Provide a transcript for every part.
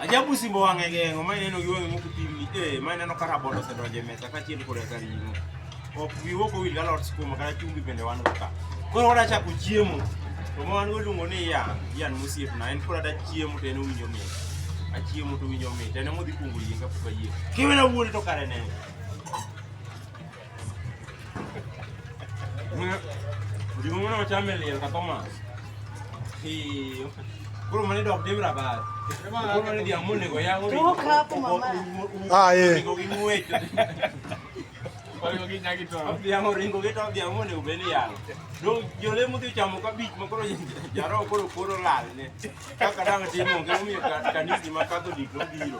Ajabu simbo wang'e geng'o ma ineno gi wang'e moko pim ni eh ma ineno ka rabolo osedonjo e mesa kaachiel koda ka ring'o. Ok wiwa ok owil galot skuma kata chumbi bende wan go ka. Koro wadwa chako chiemo to ma wan go iluongo ni yan, yan mosiepna en koro ada chiemo to en owinjo mit. Achiemo to owinjo mit en emodhi kuongo yieng' kapok ayieng'. Kiwena wuondi to kare ne. Juma mwana wachame liel katoma. Hiyo. Kuro mani dok dim rabat. Kuro mani dia mune go yango. Toka hapo mama. Ah ye. Go gimwecho. Kwa hiyo ginya kito. Dia ngo ringo kito dia mune ubeni ya. Do jole muti chamo ka bich makoro jaro kuro kuro lal ne. Kaka dang timo ngemi kanisi makato diklo biro.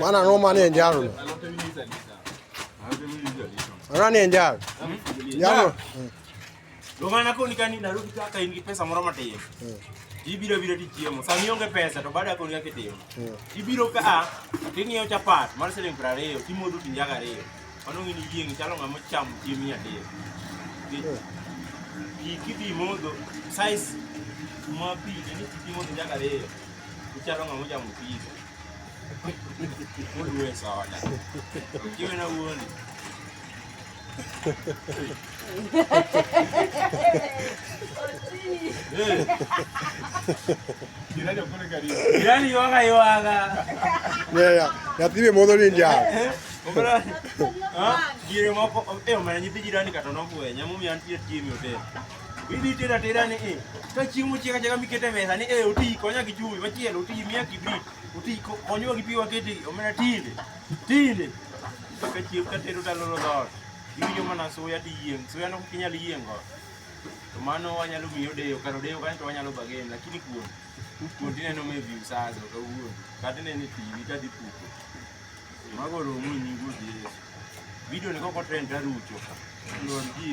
Maana noma ni njaro. Maana ni njaro. Njaro. Ndio maana kwa nikani narudi kaka ingi pesa moro matin. Hmm. Ibiro biro ti chiemo. Sa mionge pesa to baada ya kuongea kitimo. Hmm. Ibiro ka ting'iyo chapat mar siling' 20 timodo tinjaga ariyo. Mano ng'ini yieng' chalo ng'ama ochamo chiemb nyadiel. Pi kidhi modho, size ma pi ne ni kidhi modho njaga ariyo, ichalo ng'ama ochamo pizza. Oluwe soda. Kiwe na wuondi. Yaani yoga yoga. Yeah, yeah. Yapime modo ni nja. Obra. Ah, gire moko eh omanya nyithi jirani kata nobwe nyamu mi antie tiemi ote. Bidi tera tera ni eh. Ka chimu chieka chieka mikete mesa ni eh oti konya gi chubi machielo oti mia gi bi. Oti konyo gi piwa kete omena tinde. Tinde. Ka chiu ka tero daloro dot. Iwinjo mana suya to iyieng'. Suya no kok inyal yieng' go. To mano wanyalo miyi odeyo. Kar odeyo kanyo to wanyalo bargain. Lakini kuon, kuon to ineno maybe usazo kawuono. Kata ineno e TV ka dhi puko. Mago oromo e nying Ruoth Yesu. Video ni kok o trend to arucho. Lwar ji.